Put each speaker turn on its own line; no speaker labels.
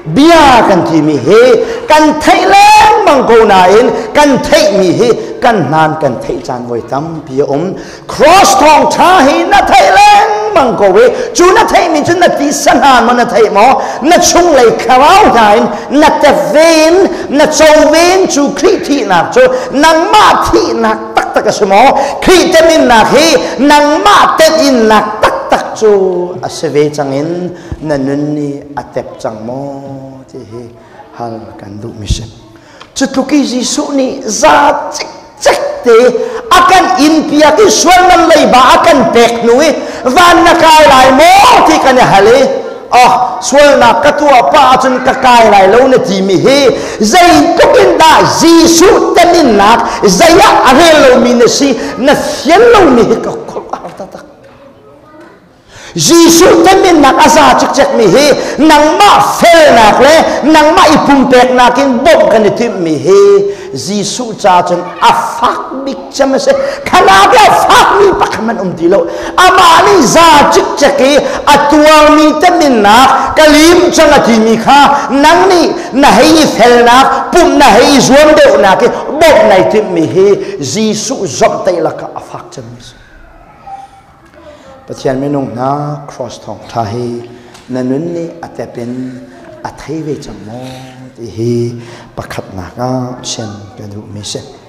bia kan timi hi kan theih lengmang ko nain kan theihmi hi kan nan kan theih caan voi tampi a um cross thawng ṭha hi na theih lengmang ko i cu na theihmi cu na tisa hna maw na theih maw na chunglei thlarau hna in na tevin na covin cu khrih thihnak cu nangmah thihnak taktak a si maw khrih teminnak hi nangmah tetinnak taktak cu a si ve cangin na nun nih a tep cang maw ti hi hal kan duhmi si. Cutluk i Jesuh nih za cikcek te a kan inpiak i sualman leiba a kan pek hnu i van na kai lai maw ti kan i hal i oh sualnak ka tuah pa ahcun ka kai lai lo na timi hi zeitluk in dah Jesuh teminnak zei ah a rel lomi na si na fian lomi hi ka kholh a taktak Jesuh pennak a za cikcekmi hi nangmah felnak le nangmah i pumpeknak in bawmh kan i timhmi hi Jesuh ca cun a fak bik cem a si khalak lo fakmi pakhat hmanh um ti lo amah nih za cikcek i a tuarmi teminnak ka lim cang a timi kha nang nih na hei i felnak pumh na hei i zuam deuhnak i bawmh nai timhmi hi Jesuh zomh teilak a fak cemmi a si Pathian minung hna cross thawngṭha hi na nun nih a tep in a thei ve cang maw ti hi pakhatnak ah chim ka duhmi a si.